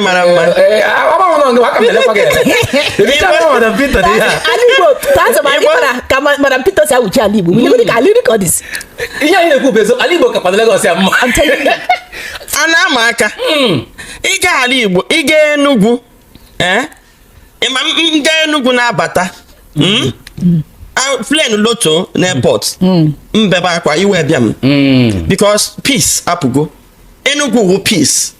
mara mma ka madam peter si awụchi ala igbo ka ala igbo ka ọ dịzi ihe anyị na-ekwu bụ ezo ala igbo kakwana Lagos ya mma a na-ama aka ị gaa ala igbo ị gaa enugwu ị ma m gaa enugwu na-abata plane loto na airport m bebe akwa iwe bịa m because peace apụgo enugwu wu peace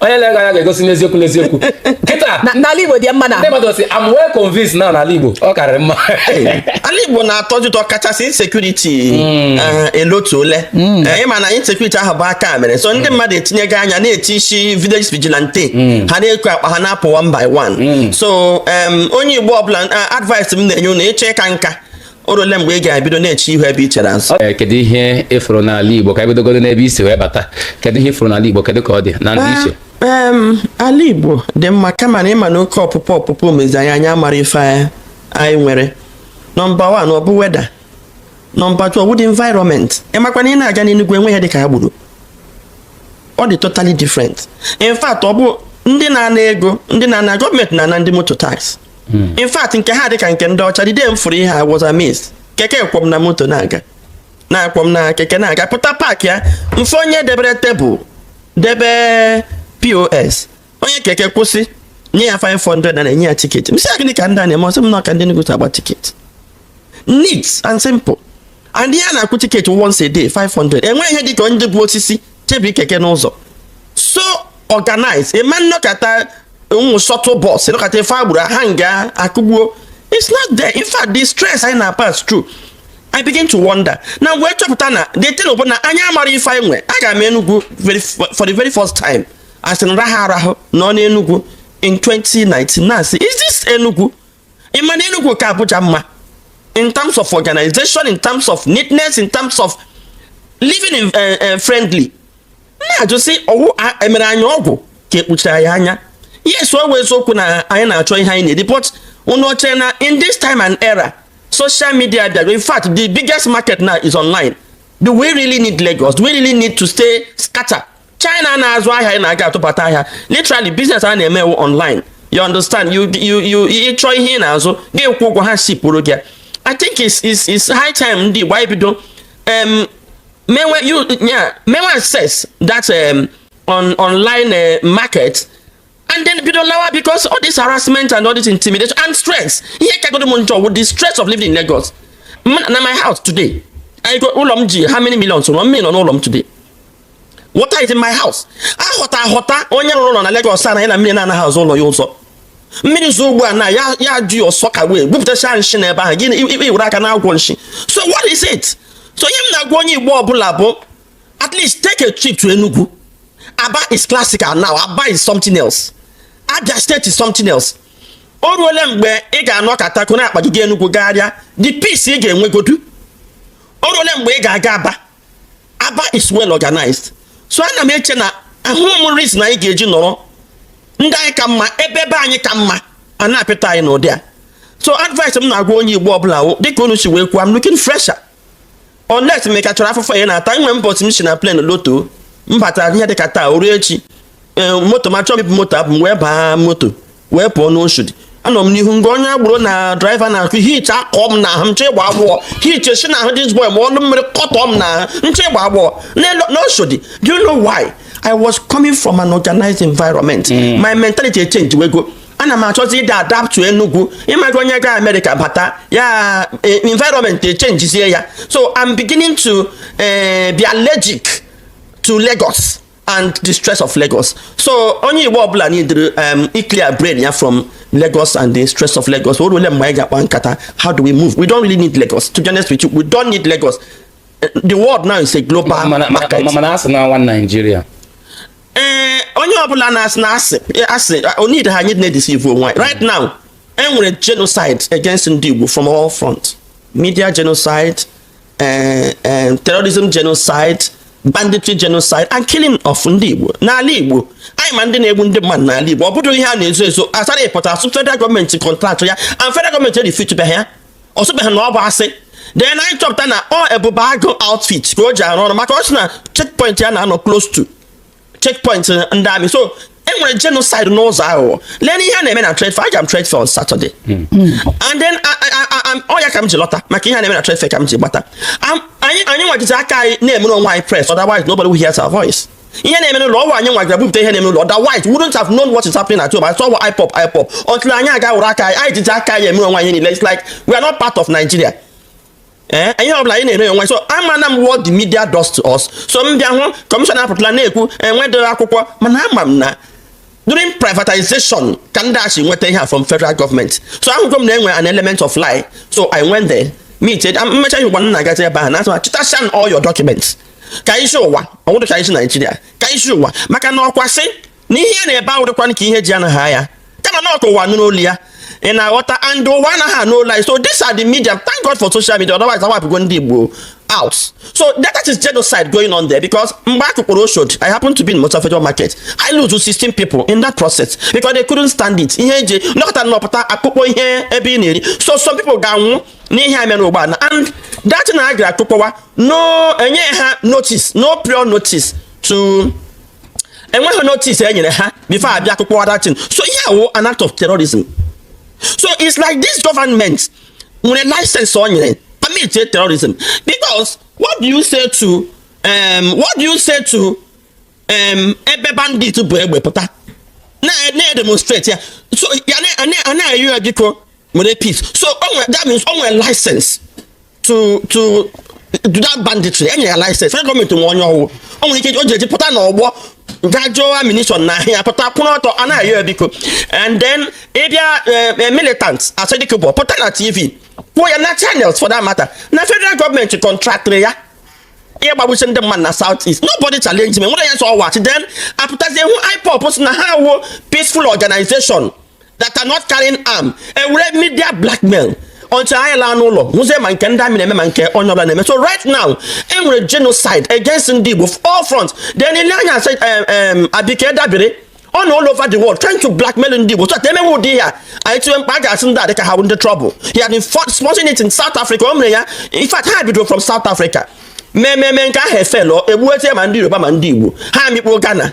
onye na-ego anya ga-egosi n'eziokwu n'eziokwu kịta na ala Igbo dị mma na ndị mmadụ sị I'm well convinced na n'ala Igbo ọ karịrị mma ala Igbo na-atọ ụtọ kachasị insecurity hmm. eh, elotu ole hmm. eh, ị ma na insecurity ahụ bụ aka mere so ndị hmm. mmadụ etinyego anya na-eti isi village vigilante ha na-eku akpa ha na-apụ one by one so onye Igbo ọbụla eh, advice m na-enye unu ị chọọ ịka nka o ruole mgbe ị ga-ebido na-eche ihu ebe i chere azụ Ee, kedu ihe ị fụrụ n'ala Igbo ka e bidogodo n'ebe isi wee bata kedu ihe ị fụrụ n'ala Igbo kedu ka ọ dị na ndị iche Em, ala igbo dị mma kama na ị ma na oke ọpụpụ ọpụpụ emezi anyị anyị amara ife anyị- anyị nwere number one ọ bụ weather number two ọ wụ the environment ị makwa na ị na-aga n'enugwu enwe ihe dị ka agboro ọ dị totally different in fact ọ bụ ndị na-ana ego ndị na-ana government na-ana ndị moto tax hmm. in fact nke ha dị ka nke ndị ọcha the day m fụrụ ihe a I was amazed keke kwọ m na moto na-aga na-akwọ m na keke na-aga pụta park ya m fụ onye debere table debe POS onye keke kwụsị nye ya 500 na-enye ya ticket m sị ya gịnị ka ndị a na-eme ọ sị m na ọ ka ndị Enugu si agba ticket neat and simple and ihe a na-akwụ ticket once a day 500 enweghị ihe dịka onye bu osisi chebi keke n'ụzọ so organized ị ma n'Okota ụmụ shuttle bus n'Okota ife agboro ha nga akụgbuo it's not there in fact the stress anyị na-pass through I begin to wonder na wee chọpụta na the thing bụ na anyị amara ife anyị nwe aga m Enugu for the very first time as in raha arahụ nọ n'Enugu in 2019 na-asị is this Enugu ị ma na Enugu ka Abuja mma in terms of organization in terms of neatness in terms of living in, uh, uh, friendly na-ajụ sị ọ wụ e mere anyị ọgwụ ka e kpuchiri anyị anya yes ọ bụ eziokwu na anyị na-achọ ihe anyị na-eri but unu chere na in this time and era social media bịara in fact the biggest market now is online do we really need Lagos do we really need to stay scatter China na-azụ ahịa ị na-aga atụbata ahịa literally business a na-eme wụ online you understand you you you ị chọọ ihe ị na-azụ gị kwụọ ụgwọ ha shipụrụ gị I think it's, it's, it's high time ndị Igbo anyị bido um, mewe you yeah mewe access that um, on online uh, market and then bido lawa because all this harassment and all this intimidation and stress ihe kagodo m njọ with the stress of living in Lagos na my house today I go ụlọ m ji how many millions ụlọ m nọ n'ụlọ m today water is in my house ahọta ahọta onye rụrụ ụlọ na Lagos anaghị na mmiri na-anaghị azụ ụlọ ya ụzọ mmiri zoo ugbu a na ya ya ju your soakaway bupụtacha nshi na ebe ahụ gị iwere aka na-agwọ nshi so what is it so ihe m na-agwa onye Igbo ọbụla bụ at least take a trip to Enugu Aba is classical now Aba is something else Abia State is something else o ruole mgbe ị ga-anọkata koro akpa gị jee Enugu gagharịa the peace ị ga-enwegodu o ruole mgbe ị ga-aga Aba aba is well organized so ana m eche na ahụ m reason anyị ga-eji nọrọ ndị anyị ka mma ebe be anyị ka mma a na-apịta anyị n'ụdị a so advice m na-agwa onye igbo ọbụla wụ dịka unu si wee kwuo I'm looking fresher unless m ka chọrọ afụfụ ya na-ata nwe mbọsị m si na plane loto m batara ihe dịka taa o ruo echi e, moto ma chọọ m moto abụ m wee baa moto wee pụọ n'Oshodi anọ m n'ihu nga onye agbero na draiva na-akụ heat akụ m na ahụ m chọọ ịgbọ agbọ heat si na ahụ this boy ma ọnụ mmiri kụtụ m na ahụ m chọọ ịgbọ agbọ n'Oshodi do you know why I was coming from an organized environment mm. my mentality echenjiwego ana m achọzi ịda adapt Enugu ị ma ka onye ga Amerịka bata ya e, environment echenjizie ya so I'm beginning to eh, be allergic to Lagos and the stress of Lagos so onye Igbo ọbụla nidiri um, ịclear brain ya from Lagos and the stress of Lagos o ruole mgbe anyị ga-akpa nkata how do we move we don't really need Lagos to be honest with you we don't need Lagos the world now is a global market. mana a sị na one Nigeria. ee eh, onye ọbụla na-asị na asị eh, asị eh, onid ha anyị na-edisivu onwe right now e nwere genocide against ndị Igbo from all front media genocide eh, eh, terrorism genocide banditry genocide and killing of ndị Igbo n'ala Igbo anyị ma ndị na-egbu ndị mmadụ n'ala Igbo ọ bụdịrọ ihe a na-ezo ezo Asari pụta sị federal gọọmenti kọntraktụ ya and federal gọọmenti erifutubeghị ya ọ sịbeghị na ọ bụ asị then anyị chọpụta na ọ Ebube Agụ outfit ka o ji arụ ọrụ maka ọ sị na checkpoint ya na-anọ close to checkpoint ndị army so e nwere genocide n'ụzọ aghụghọ lee ihe a na-eme na trade fair aga m trade fair on Saturday hmm. and then ọ ya ka m ji lọta maka ihe a na-eme na trade fair ka m ji gbata anyị anyị nwa jizi aka anyị na-emere onwe anyị press otherwise nobody will hear our voice ihe na-eme n'ụlọ ọ wụ anyị nwa gara bupụta ihe na-eme n'ụlọ otherwise we wouldn't have known what is happening at home I saw IPOB IPOB until anyị aga were aka anyị anyị jizi aka anyị emere onwe anyị niile it's like we are not part of Nigeria ee ihe ọbụla anyị na-emere onwe so amana m what the media does to us so m bịa hụ kọmishọna apụtala na-ekwu enwedịrọ akwụkwọ mana ama m na during privatization ka ndị a si nweta ihe a from federal government so ahụgo m na enwe an element of lie so i went there meet m mecha ihe ụgwa nna gazi ebe ahụ na-atụ chịtasịa all your documents ka e zi ụwa ọ wụdị ka e zi Naijiria ka e zi ụwa maka na ọ kwa asị n'ihe ya na-ebe awụghịkwanụ ka ihe ji anaghị anya kama na ọ ka ụwa nụrụ olu ya ị na-aghọta and ụwa anaghị anụ olu anyị so this are the media thank God for social media otherwise a wipe-ụgo ndị Igbo out so that is genocide going on there because mgbe a kụkpọrọ Oshodi I happen to be in Mosafejo Market I lose 16 people in that process because they couldn't stand it ihe eji nọkọta nọpụta a kụkpọọ ihe ebe ị na-eri so some people ga-anwụ n'ihe a mere ugbu a and that na a gara akụkpọwa na enye ha notice no prior notice to enweghị notice e nyere ha before a bịa akụkpọwa that thing so ihe a wụ an act of terrorism so it's like this government nwere license o nyere permit terrorism because what do you say to um, what do you say to um, ebe bandit bu egbe pụta na-demonstrate ya so a na-ayọ ya biko nwere peace so o nwere that means o nwere license to to do that banditry enye ya license federal gọọmenti nwe onye ọ wụ o nwere ike o ji eji pụta n'ọgbọ kwajuo ammunition n'ahụ ya pụta kwụrụ ọtọ a na-ayọ ya biko and then ị bịa eh, eh, militant Asari Dokubo pụta na tv kwuo ya na channels for that matter na federal gọọmenti contract-ịrị ya ịgbagbusi ndị mmadụ na south east nobody challenge me nwere ya sọ ọwa chi then apụtazie hụ IPOB sị na ha wụ peaceful organization that are not carrying arm e were media blackmail until anyị laa n'ụlọ nwụzie ma nke ndị army na-eme ma nke onye ọbụla na-eme so right now e nwere genocide against ndị Igbo all front then i lee anya a sị Abike Dabiri ọ nọ all over the world trying to blackmail ndị Igbo so that e mewe ụdị ya anyị tiwe mkpu a ga-asị ndị a dịka ha ndị trouble he had been sponsoring it in South Africa o mere ya in fact ha bidoro from South Africa mmemme nke ahụ efelo egbuetie ma ndị Yoruba ma ndị Igbo ha mikpuo Ghana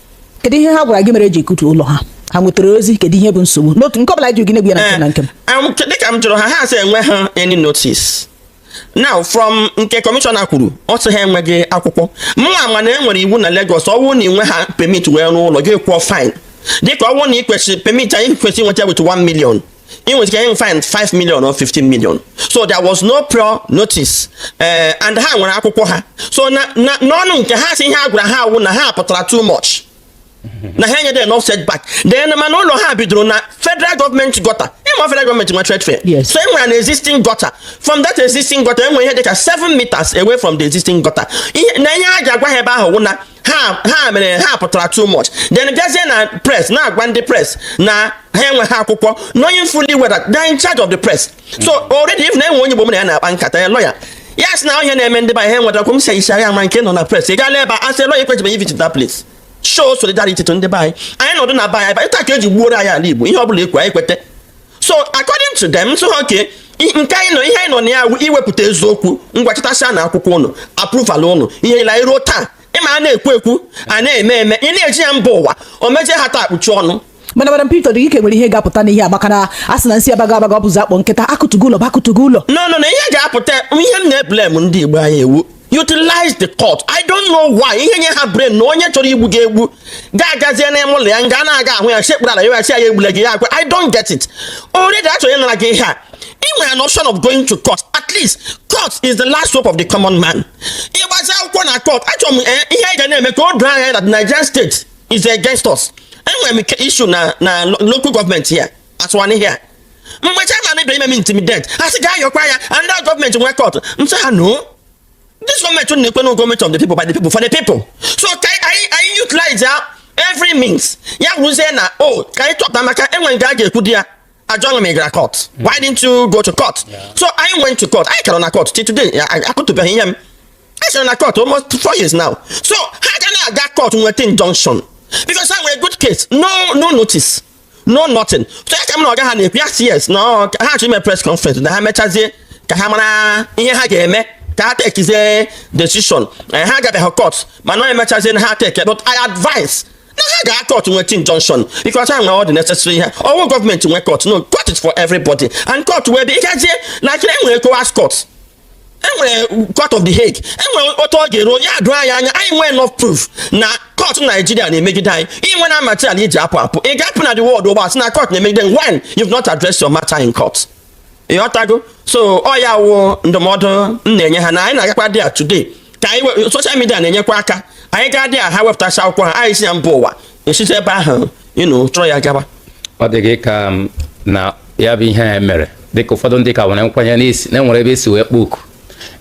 kedu ihe ha gwara gị mere e ji akụtu ụlọ ha ha nwetara ozi kedu ihe bụ nsogbu n'otu nke ọbụla ji gị na-egwu ya na nke na nke m eh, dịka m jụrụ ha ha sị enwe ha any notice now from nke commissioner kwuru ọ sị ha enweghị akwụkwọ ma mana e nwere iwu na Lagos ọ wụ na ị nwe ha permit wee rụọ ụlọ gị kwụọ fine dịka ọ wụ na ị kwesịrị permit anyị kwesịrị nweta with 1 million e nwere ike fine 5 million or 15 million so there was no prior notice eh, and ha nwere akwụkwọ ha so n'ọnụ nke ha sị ihe a gwara ha wụ na ha pụtara too much na ha enyeghị enough setback then mana ụlọ ha bidoro na federal gọọmenti gutter ị ma federal gọọmenti nwe trade fair so enwere an existing gutter from that existing gutter enwere ihe dịka 7 meters away from the existing gutter na ihe a na-agwa ha ebe ahụ wụ na ha ha mere ha pụtara too much then bịazie na press na-agwa ndị press na ha enweghị akwụkwọ knowing fully well that they are in charge of the press so already if na enwe onye Igbo mụ na ya na-akpa nkata a lawyer ya sị na ihe na-eme ndị be anyị enweta akwụkwọ m sị ya ma nke nọ na press ị gaala ebe ahụ as a lawyer ị kwesịrị ị-visit that place show solidarity to ndị be anyị anyị nọdụ na be anyị ịta ka eji gbuoro anyị ala Igbo ihe ọ bụla ekwe anyị kweta so according to them so ha ke nke anyị nọ ihe anyị nọ na ya iwepụta eziokwu ngwa chịtasịanụ akwụkwọ ụnụ approval ụnụ ihe nile ruo taa ị ma a na-ekwu ekwu a na-eme eme ị na-eji ya mba ụwa o mejie ha taa kpuchi ọnụ mana madam Peter dị ike nwere ihe ga-apụta n'ihe agbaka na a sị na nsi abaga abaga ọ bụzi akpọ nkịta akụtugo ụlọ bụ akụtugo ụlọ no no na ihe ga-apụta ihe m na-eblem ndị Igbo anyị ewu utilize the court i don't know why ihe nye ha brain na onye chọrọ igbu gị egbu gị agazie n'ime ụlọ ya nga na-aga ahụ ya sekpuru ala ya ya egbula gị ya agwa i don't get it already achọrọ ya nara gị ihe a ị nwere an option of going to court at least court is the last hope of the common man ị gbazie akwụkwọ na court achọrọ m eh, ihe anyị ga na-eme ka o doo anya na Nigerian state is against us enwere m issue na na local government ya atụwa n'ihe a mgbe chairman bịara ime m intimidate ha sị gaa yọkwa ya ndị gọọmenti nwe court m sị ha noo this gọọmenti na-ekwu na gọọmenti of the people by the people for the people so ka anyị anyị utilize ya every means ya wụzie na o oh, ka anyị chọpụta maka enwe nke a ga-ekwu di ya a jụọ gị ma ị gara court why didn't you go to court so I went to court anyị ka nọ na court till today akụtubeghị ihe m anyị still nọ na court almost four years now so ha ga na-aga court nweta injunction because ha nwere good case no no notice no nothing so ya ka m na ọga ha na-ekwu yes yes na ha chọ ime press conference na ha mechazie ka ha mara ihe ha ga-eme ka ha tekizie decision eh, ha agabeghị court mana emechazie na ha take but I advise na ha gaa court nweta injunction because ha nwere all the necessary ihe ọ wụ gọọmenti nwe court no court is for everybody and court wee bịa ịgazie na kiri enwere ECOWAS court enwere court of the Hague enwere otu ọ ga-eru ya edoo anyị anya anyị nwee enough proof na court Nigeria na-emegide anyị ị nweena material iji apụ apụ ị ga-apụ na the world ugbu a sị na court na-emegide when you've not addressed your matter in court ị ghọtago so ọ ya wụ ndụmọdụ m na-enye ha na anyị na-agakwa there today ka anyị social media na-enyekwa aka anyị gaa there ha wepụtacha akwụkwọ ha anyị zie ya mba ụwa esite ebe ahụ ịnụ chọrọ ya gaba ọ dị gị ka um, na ya bụ ihe a mere dịka ụfọdụ ndị ka nwere nkwenye n'isi na enwere ebe esi wee kpọ oku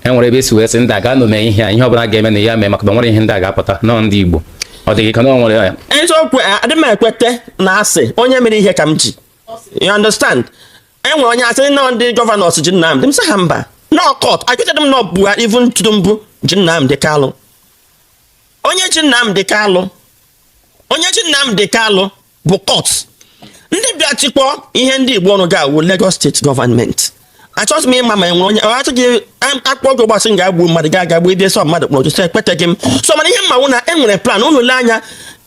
enwere ebe esi wee sị ndị a gaanụ mee ihe a ihe ọbụla ga-eme na ya mee maka na nwere ihe ndị a ga-apụta na ọ ndị Igbo ọ dị gị ka na ọ nwere ya eziokwu adị m ekweta na asị onye mere ihe ka m ji you understand enwere onye sị na ọ ndị gọvanọ ji Nnamdị m sị ha mba na ọ court ekwetaghị m na ọ Buhari even Tinubu ji Nnamdị Kalụ onye ji Nnamdi Kalụ onye ji Nnamdi Kalụ bụ court ndị bịa chịkpọ ihe ndị Igbo ọnụ ga-awụ Lagos state government achọghị m ịma ma enwere onye achọghị a kpọọ gị ugbu a sị gaa gbuo mmadụ gị agaa gbuo ebe sọ mmadụ kpọrọ gị so ekweteghị m so mana ihe m ma wụ na enwere plan unu lee anya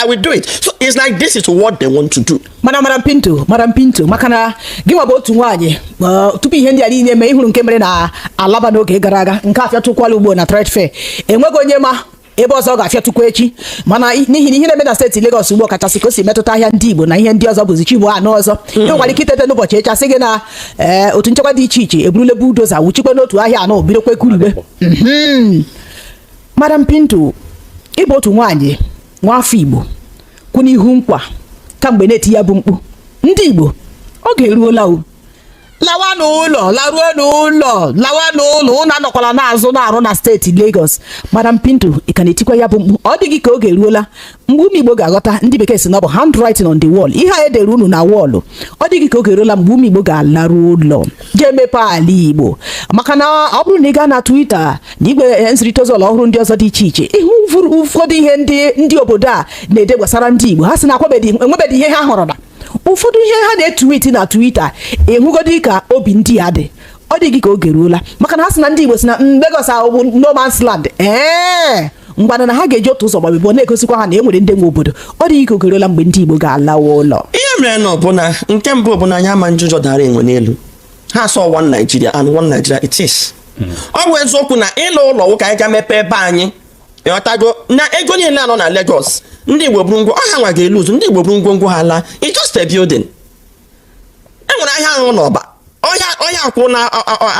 I will do it. So it's like this is what they want to do. Mana Madam Pinto, Madam Pinto, maka na gị nwa bụ otu nwaanyị uh, tupu ihe ndị a niile mee ị hụrụ nke mere na Alaba n'oge gara aga nke afịọtụkwala ugbu a na trade fair enweghị onye ma ebe ọzọ ọ ga-afịọtụkwa echi mana n'ihi na ihe na-eme na steeti Lagos ugbu a kachasị ka o si metụta ahịa ndị Igbo na ihe ndị ọzọ bụzi chi bọọ a nụ ọzọ mm. enwekwara ike itete n'ụbọchị echi asị gị na eh, otu nchekwa dị iche iche eburule bulldozer wuchikwa n'otu ahịa anọ bidokwa kụribe mm-hmm. Madam Pinto ị bụ otu nwaanyị nwa afọ Igbo kwụ n'ihu nkwa kamgbe na-eti ya bụ mkpu ndị Igbo oge eruola o lawa n'ụlọ laruo n'ụlọ lawa n'ụlọ unu anọkwala na-azụ na-arụ na steeti Lagos Madam Pinto ị ka na-etikwa ya bụ mkpu ọ dịghị ka oge eruola mgbe ụmụ igbo ga-aghọta ndị bekee sị na ọ bụ handwriting on the wall ihe a edere unu na wọọlụ ọ dịghị ka oge eruola mgbe ụmụ igbo ga-alaru ụlọ ga-emepe ala igbo maka na ọ bụrụ na ị gaa na Twitter na igwe eh, nzirịta ozi ọhụrụ ndị ọzọ dị iche iche ị hụ ụfọdụ ihe ndị ndị obodo a na-ede gbasara ndị igbo ha sị na akwabedị enwebedị ihe ha hụrụ na ụfọdụ ihe ha na-etuwiti na Twitter ịhụgodị ka obi ndị a dị ọ dịghị ka oge ruola maka na ha sị na ndị igbo sị na Lagos ahụ bụ no man's land ee ngwana na ha ga-eji otu ụzọ gba abụọ na-egosikwa ha na e nwere ndị nwe obodo ọ dịghị ka oge eruola mgbe ndị Igbo ga-alawa ụlọ ihe merenụ bụ na nke mbụ bụ na anyị ama-eji ụjọ dara enwe n'elu ha sị ọ one Nigeria and one Nigeria it is hmm. ọ bụ eziokwu na ịla ụlọ wụ ka anyị ga mepee ebe anyị ịghọtago na ego niile a nọ na Lagos ndị Igbo buru ngwo ọ ha nwa ga-elose ndị Igbo buru ngwongwo ha laa it's just a building e nwere ahịa ahụ n'ọba ọhịa ọhịa akwụ na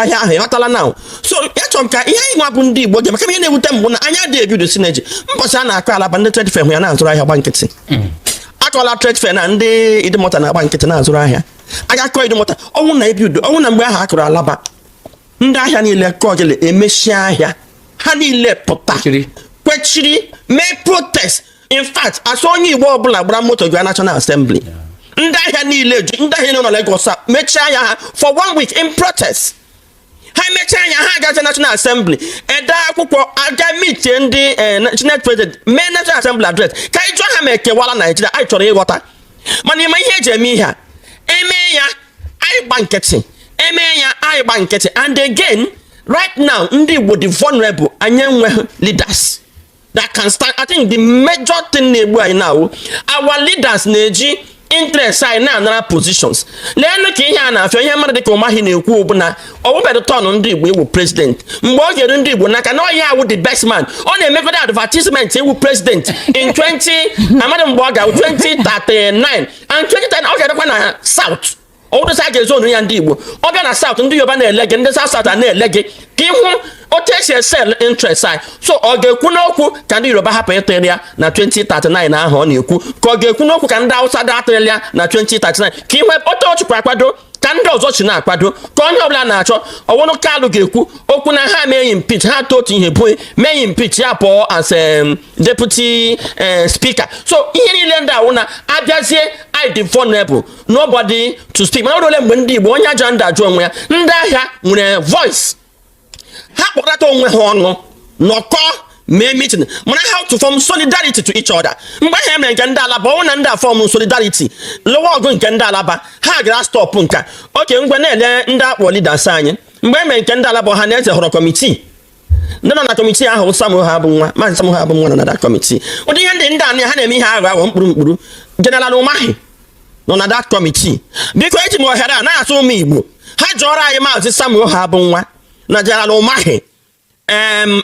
ahịa ahụ ịghọtala na so achọrọ m ka ihe anyị nwa bụ ndị Igbo ji maka ihe na-ewute m bụ na anyị adị ebuild synergy mbọchị a na-akụ Alaba ndị trade fair hụ ya na-azụrụ ahịa gba nkịtị mm. akụla trade fair na ndị Idumota na-agba nkịtị na-azụrụ ahịa a ga-akụ Idumota ọ wụ na ebido ọ wụ na mgbe ahụ a kụrụ Alaba ndị ahịa niile kọọ gịlị emechie ahịa ha niile pụta kwechiri mee protest in fact asị onye igbo ọbụla gbara moto jua national assembly ndị ahịa niile ju ndị ahịa nọ na Lagos a mechie ahịa ha for one week in protest ha mechie ahịa ha agazi national assembly ede akwụkwọ aga mitie ndị eh, senate president mee national assembly address ka anyị jụọ ha ma ekewala naijiria anyị chọrọ ịghọta mana ịma ihe eji eme ihe a eme ya anyị gba nkịtị eme ya anyị gba nkịtị and again right now ndị igbo dị vulnerable anyị enweghị leaders that can stand i think the major thing na-egbu anyị now wụ our leaders na-eji interest anyị na-anara positions leenụ ka ihe a na-afịọ ihe mmadụ dịka Umahi na-ekwu bụ na ọ wụbedụ turn ndị igbo ịwụ president mgbe ọ ga-eru ndị igbo n'aka na ọ ya wụ the best man ọ na-emekọta advertisement ịwụ president in 20 amadị mgbe ọ ga-awụ 2039 and 2010 ọ ga-adịkwa na south ọwụdụsị a ga-ezonu ya ndị Igbo ọ bịa na South ndị Yoruba na-ele gị ndị South South a na-ele gị ka ị hụ otu e si e-sell interest anyị so ọ ga-ekwu n'okwu ka ndị Yoruba hapụ ịtụrụ ya na 2039 ahụ ọ na-ekwu ka ọ ga-ekwu n'okwu ka ndị Hausa dị atụrụ ya na 2039 ka ihe otu ọ chịkwa akwado ka ndị ọzọ si na-akwado ka onye ọbụla na-achọ ọ wụrụ Kalu ga-ekwu okwu na ha mee impeach ha tụ otu ihe bụ ime impeach ya pụọ as um, deputy um, speaker so ihe niile ndị a wụ na a bịazie anyị dị vulnerable nobody to speak mana ole mgbe ndị Igbo onye ajụrụ adịghị ajụ onwe ya ndị ahịa nwere voice ha kpọkọta onwe ha ọnụ nọkọ mee meeting mara how to form solidarity to each other mgbe ahụ emere nke ndị alaba ọ wụ na ndị a form solidarity lụwa ọgụ nke ndị alaba ha gara stop nke a okay ngwa na-ele ndị a kpọ leaders anyị mgbe emere nke ndị alaba Ohanaeze họrọ kọmitii ndị nọ na kọmitii ahụ Samuel Ohuabunwa maazị Samuel Ohuabunwa nọ na that kọmitii ụdị ihe ndị ndị anya ha na-eme ihe aghọ aghọ mkpụrụ mkpụrụ jeneral Umahi nọ na that kọmitii biko eji m ohere a na-asị ụmụ Igbo ha jụọrọ anyị maazị Samuel Ohuabunwa na jeneral Umahi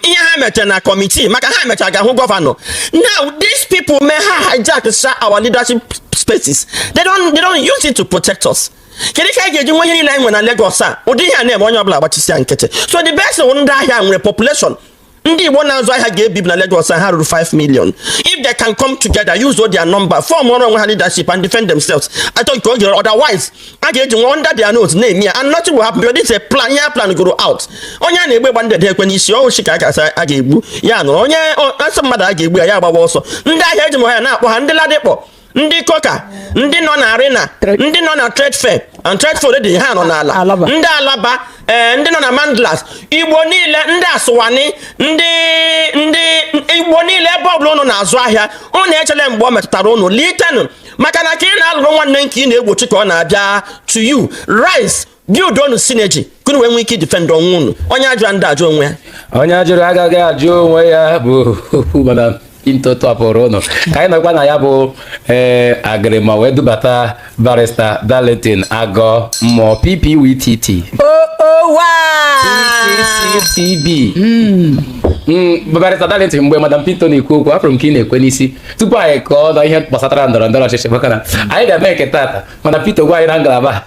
ihe ha mechara na kọmitii maka ha mechara gaa hụ gọvanọ now these people may ha hijack our leadership spaces they don't, they don't use it to protect us kedu ka anyị ga-eji nwe ihe niile anyị nwere na Lagos a ụdị ihe a na-eme onye ọbụla agbachisia nkịtị so the best wụ ndị ahịa nwere population ndị Igbo na-azụ ahịa ga-ebibi na Lagos ha ruru 5 million if they can come together use all their number formụọrọ onwe ha leadership and defend themselves I think oge otherwise a ga-eji nwe under their nose na-eme ya and nothing will happen because this is a plan ihe e plangoro out onye a na-egbe gba ndede ekwe n'isi ọ wụ osisi ka a ga-asị a ga-egbu ya nọrọ onye asị mmadụ a ga-egbu ya ya agbawa ọsọ ndị ahịa eji m aha na-akpọ ha ndị Ladipo ndị Coker ndị nọ na Arena ndị nọ na trade fair and trade fair dị ha nọ n'ala ndị Alaba ee eh, ndị nọ na Mandilas Igbo niile ndị Aswani ndị ndị Igbo niile ebe ọbụla ụnụ na-azụ ahịa ụnụ echele mgbe ọ metụtara ụnụ litenụ maka na ka ị na-alụrụ nwanne nke ị na-egbochi ka ọ na-abịa to you rise buildụọnụ synergy ka unu wee nwee ike idefend onwe unu onye ajụrụ adịghị ajụ onwe ya onye ajụrụ agaghị ajụ onwe ya bụ madam Pinto tọpụrụ ụnụ ka anyị nọkwa na ya bụ ee eh, agịrịma wee dubata barista Darlington Agomuo PPWTT PCCTB hmm. hmm, barista Darlington mgbe madam Pinto na-ekwu okwu afụrụ m ka ị na-ekwe n'isi tupu anyị kọọ na ihe gbasatara ndọrọ ndọrọ ọchịchị maka na anyị ga-eme nke tata madam Pinto gwa anyị na ngalaba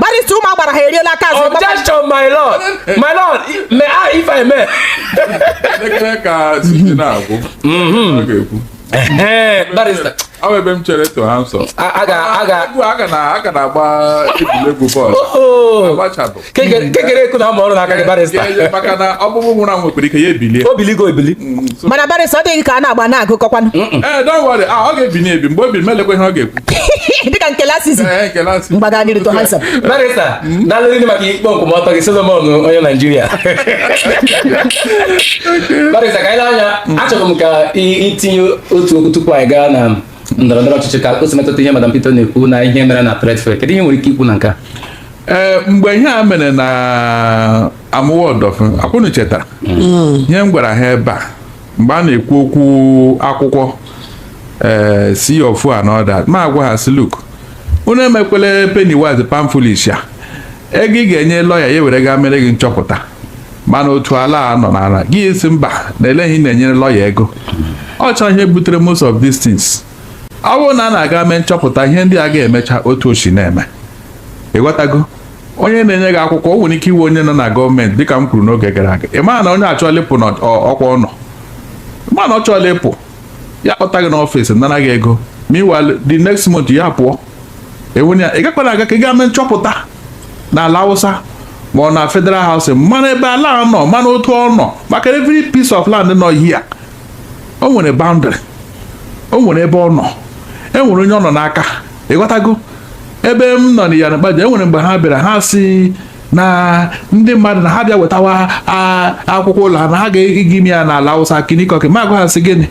barista ụmụ agbara ha eriela aka azụ objection my lord my lord may I if I may ekele ka site na-agwụ mhm. ọ ga-ekwu barista ahụ ebe m chere to ha nsọ a ga na-agba egwuregwu bọọlụ agbachabụ Kekere-Ekun na ama ọrụ n'aka gị barịsta maka na ọkpụkpụ nwụrụ anwụ nwere ike ya ebilie o biligo ebili mm, mana barịsta ọ dịghị ka a na-agba na-agụkọkwanụ ee eh, don't worry ah, ọ ga-ebinye ebi mgbe o biri m elekwa ihe ọ ga-ekwu dịka nke Lasisi eh, eh, mgbaga n'iru too handsome barịsta mm. daalụ ndị maka ikpe nkwụmọtọ gị Solomon onye Naijiria barịsta ka anyị na-anya mm. achọrọ m ka i tinye otu okwu tupu anyị gaa na ndọrọ ndọrọ ọchịchị ka o si metụta ihe madam Peter na-ekwu na ihe mere na Trade Fair kedu ihe nwere ike ikwu na nke a ee eh, mgbe ihe a mere na Amuwo Odofin ọ kwa unu chetara hmm. ihe m gwara ha ebe a mgbe a na-ekwu okwu akwụkwọ ee eh, C of O and all that m agwa ha sị look unu emekwele penny wise pound foolish ya ego ị ga-enye lọya ya were gaa mere gị nchọpụta mana otu ala a nọ n'ala gị sị mba na eleghị na-enyere lọya ego ọ chọrọ ihe butere most of these things ọ bụrụ na a na-aga mee nchọpụta ihe ndị a ga-emecha otu o si na-eme ịghọtago onye na-enye gị akwụkwọ o nwere ike ịwụ onye nọ na gọọmenti dịka m kwuru n'oge gara aga ị mara na onye a achọọla ịpụ n'ọkwa ọ nọ ma na ọ chọọla ịpụ ya kpọta gị n'ọfịs nara gị ego meanwhile the next month ya pụọ enwere ya ị gakwara aga ka ị gaa mee nchọpụta n'Alausa ma ọ na federal housing mana ebe ala nọ mana otu ọ nọ maka every piece of land nọ here o nwere boundary o nwere ebe ọ nọ e nwere onye ọ nọ n'aka ịghọtago ebe m nọ n'Iyana Ipaja e nwere mgbe ha bịara ha sị na ndị mmadụ na ha bịa wetawa akwụkwọ ụlọ ha na ha ga-aga ime ya n'Alausa kinikọki m agwa ha sị gịnị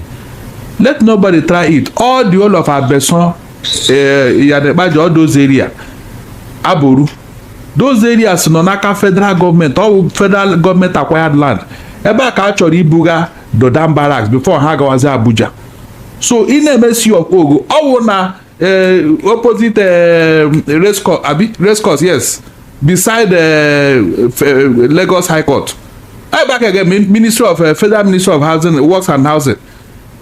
let nobody try it all the whole of Abesan eh, Iyana Ipaja all those area Aboru those areas nọ n'aka federal gọọmenti ọ bụ federal gọọmenti acquired land ebe a ka a chọrọ ibuga Dodan Barracks before ha gawazi Abuja so ị na-eme C of O gị ọ bụ na eh, opposite eh, race course abi race course yes beside eh, Lagos High Court ebe a ka ị ga Ministry of Federal Ministry of Housing Works and Housing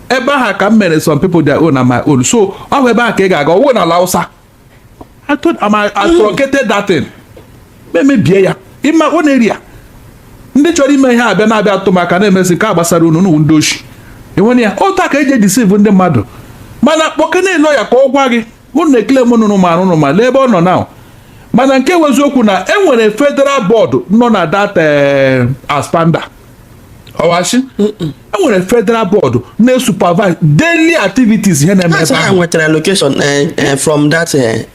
ebe aha ka m mere some people their own and my own so ọ bụ ebe a ka ị ga-aga ọ wụ na Alausa I told am I truncated that thing m emebie ya ịma ọ na-eri ya ndị chọrọ ime ihe a bịa na-abịa atụ maka na-emezi nke a gbasara unu n'ụwa ndị oshi enwere ya otu a ka e ji e-deceive ndị mmadụ mana kpọkene lọya ka ọ gwa gị unu ekele m nụrụ ma arụrụ ma lee ebe ọ nọ na mana nke wụ eziokwu na e nwere federal board nọ na that eh, ASPAMDA ọ wa sị enwere federal board na-supervise daily activities ihe na-eme ebe ahụ nwetara allocation eh, eh, from that eh,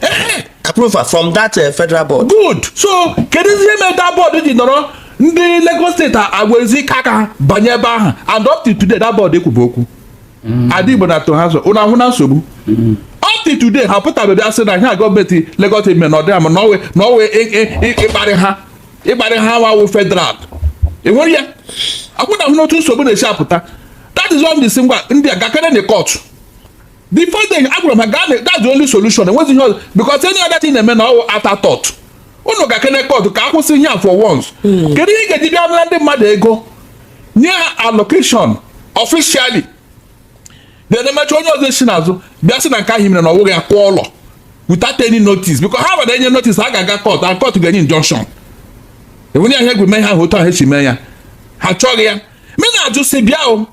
approval from that federal board good so kedu ihe mere that board ji nọrọ ndị Lagos steeti agwezi ike aka banye ebe ahụ and up to today that board ekwubu okwu mm. ada Igbo na-atọ ha ụsọ ụlọ ahụ na nsogbu mm. up to today ha pụtabeghị asị na ihe a gọọmenti Lagos eme na ọ dịa mma na ọwụ ịkparị ha ịkparị ha wa wụ federal enwere ya akwụna hụ n'otu nsogbu na-esi apụta that is one thing ngwa ndị a gakene na court before then agwara m ha gaa na that's the only solution enwezi ihe ọzọ because any other thing na-eme na ọwụ afterthought unu gakene court ka akwụsị ihe a for once hmm. kedu ihe ị ga-eji bịa nara ndị mmadụ ego nye ha allocation officially then emecha onye ọzọ esi n'azụ bịa sị na nke ahụ mere na ọ wụghị ya kụọ ụlọ without any notice because ha ma na enye notice ha ga-aga court and court ga-enye injunction enwere ya ihe egwu mee ihe ahụ otu ahụ esi mee ya ha chọghị ya m na-ajụ si bịa o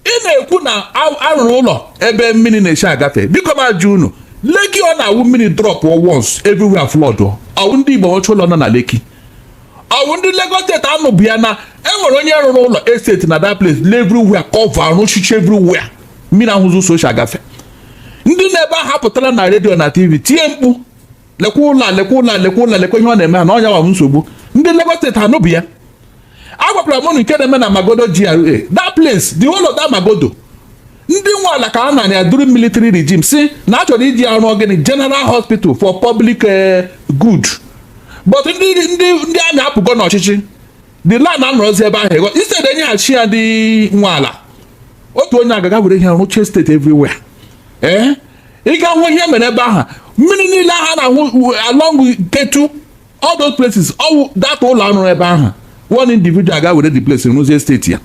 ị na-ekwu na arụrụ ụlọ ebe mmiri na-esi agafe biko m ajụ unu Lekki ọ na-awụ mmiri drop once everywhere flood ọwụ ndị Igbo ọchụ ụlọ nọ na Lekki ọwụ ndị Lagos steeti anụbụ ya na enwere onye rụrụ ụlọ estate na that place everywhere cover arụchicha everywhere mmiri ahụzi ụzọ o si agafe ndị nọ ebe ahụ apụtara na redio na tv tie mkpu lekwa ụlọ lekwa ụlọ lekwa ụlọ lekwa ihe ọ na-eme ha na onye a wa bụ nsogbu ndị Lagos steeti anụbụ ya agwakwara m nke na-eme na Magodo GRA that place the whole of that Magodo ndị nwe ala ka a nara ya during military regime si na a chọrọ iji arụ ọ gịnị general hospital for public eh, good but ndị ndị ndị army apụgo n'ọchịchị the land anọrọzi ebe ahụ ego instead enyeghachi ya ndị nwe ala otu onye agaga were ihe rụchie estate everywhere ee eh? ịga hụ ihe mere ebe ahụ mmiri niile ahụ a na-ahụ along Ketu all those places ọwụ that ụlọ arụrụ ebe ahụ one individual ga were the place rụzie estate ya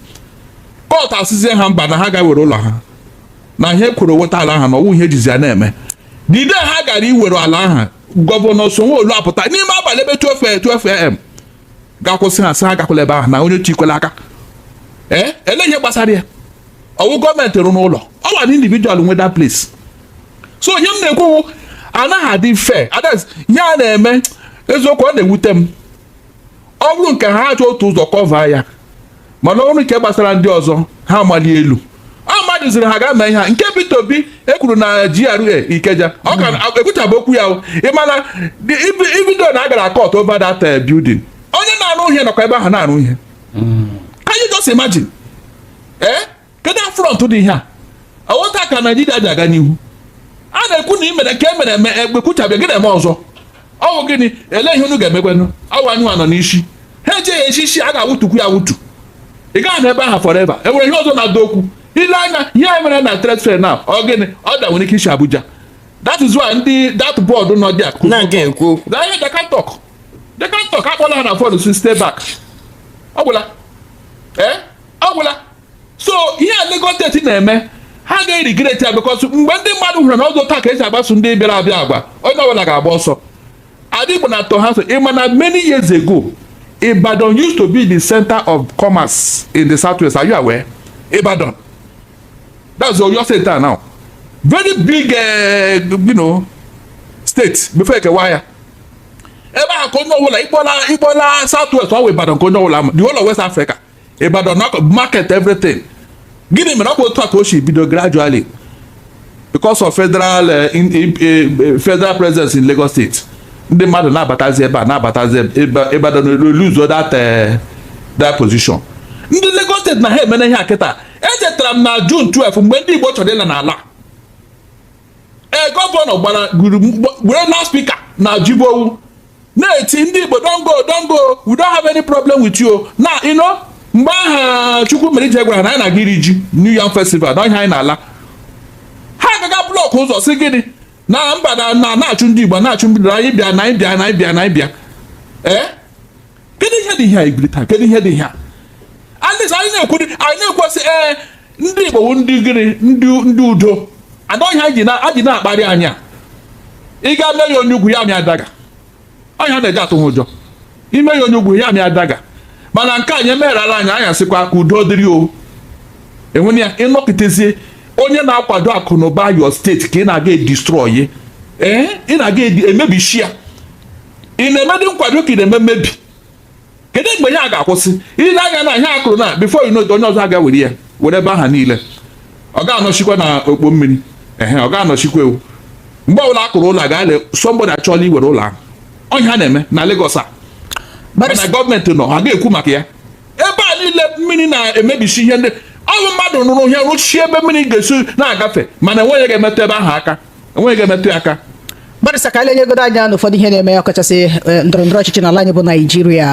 court asịzie ha mba na ha ga were ụlọ ha na ihe kwuru weta ala ha na ọwụ ihe ejizi ya na-eme the day ha gara iwere ala ahụ gọvanọ Sanwo-Olu apụta n'ime abalị ebe 12 12 am ga kwụsị ha sị ha gakwala ebe ahụ na onye chikwela aka ee eh? ele ihe gbasara ya ọwụ gọọmenti rụrụ ụlọ ọwụ an individual nwe that place so ihe m na-ekwu anaghị adị fair that is ihe a na-eme eziokwu ọ na-ewute m ọ bụrụ nke ha achọ otu ụzọ cover ya mana o ruo nke gbasara ndị ọzọ ha amali elu a mmadụ ziri ha gaa mee ihe a nke Peter Obi ekwuru na GRA Ikeja ọ ka ekwuchabụ okwu ya ị ma na ibido na a gara court over that eh, building onye na-arụ ihe nọkwa ebe ahụ na-arụ ihe can you just imagine ee eh? kedu affront dị ihe a ọ wụ otu a ka naijiria ji aga n'ihu a na-ekwu na imere ka e mere eme ekwuchabeghị ya gị na-eme ọzọ ọ bụ gịnị ele ihe unu ga-emekwanụ ọ wụ anyị nọ n'isi ha ejeghị echi isi a ga-awụtukwu ya awụtu ị gaghị anọ ebe ahụ forever e nwere ihe ọzọ na-ada okwu ile anya ihe a mere na trade fair na ọ gịnị order nwere ike isi abuja that is why ndị that board nọ dị akụ na nke ekwu okwu na ihe they can't talk they can't talk akpọla ha na phone sị stay back ọ gwụla ee ọ gwụla so ihe a Lagos State na-eme ha ga-eregret ya because mgbe ndị mmadụ hụrụ na ọ bụzi otu a ka e si akpaso ndị bịara abịa agwa onye ọbụla ga-agba ọsọ ndị Igbo na-atọ ha so ịma na many years ago Ibadan used to be the center of commerce in the southwest are you aware Ibadan that's Oyo state now very big uh, you know, state before e kewaa ya ebe ahụ ka onye ọbụla ịkpọla ịkpọla southwest ọ wụ Ibadan ka onye ọbụla the whole of West Africa Ibadan na market everything gịnị mere ọ bụ otu a ka o si bido gradually because of federal eh, eh, eh, federal presence in Lagos State ndị mmadụ na-abatazi ebe a na-abatazi Ibadan lose that that position ndị Lagos State na ha emene ihe a kịta echetara m na June 12 mgbe ndị Igbo chọrọ ịla n'ala ee gọvanọ gbara gburu were loudspeaker na jibowu na-eti ndị Igbo don't go don't go we don't have any problem with you na you know mgbe aha Chukwumerije gwara na anyị na-aga iri ji New Yam Festival na ihe anyị na-ala ha agaga block ụzọ sị gịnị na mba na na-achụ ndị Igbo na-achụ mbido anyị bịa na anyị bịa na anyị bịa na anyị bịa ee eh? kedu ihe dị ihe a ibili taa kedu ihe dị ihe a ndị anyị na-ekwu anyị na-ekwu sị ee eh, ndị Igbo bụ ndị gịnị ndị udo ọ ihe ha ji na-akparị anyị ị ga mee ya onye ugwu ya amịa dagger ọ ihe a na-eji atụ ha ụjọ i mee ya onye ugwu ya amịa dagger mana nke anyị e merala anyị anyị asịkwa ka udo dịrị o enwere ya ịnọkịtezie onye na-akwado akụ na ụba your state ka ị na-aga edestroy ee eh, ị na-aga emebishi ya ị na-emedị nkwado ka ị na-eme mmebi kedu mgbe ihe a ga-akwụsị ile anya na ihe a kụrụ na before you know onye ọzọ aga were ya were ebe aha niile ọ ga-anọchikwa na okpo mmiri ehe ọ ga-anọchikwa ewu mgbe ọbụla a kụrụ ụlọ a ga-ele somebody achọla iwere ụlọ ahụ ọ ihe ha na-eme na Lagos a mana gọọmenti nọ ha ga-ekwu maka ya ebe a niile mmiri na-emebisi ihe ndị ọ bụ mmadụ rụrụ ihe rụchie ebe mmiri ga-esi na-agafe mana enweghị ga-emetụ ebe ahụ aka enweghị ga-emetụ ya aka barrister ka anyị lenyegodo anya n'ụfọdụ ihe na-eme ọkachasị eh, ndọrọ ndọrọ ọchịchị n'ala anyị bụ naijiria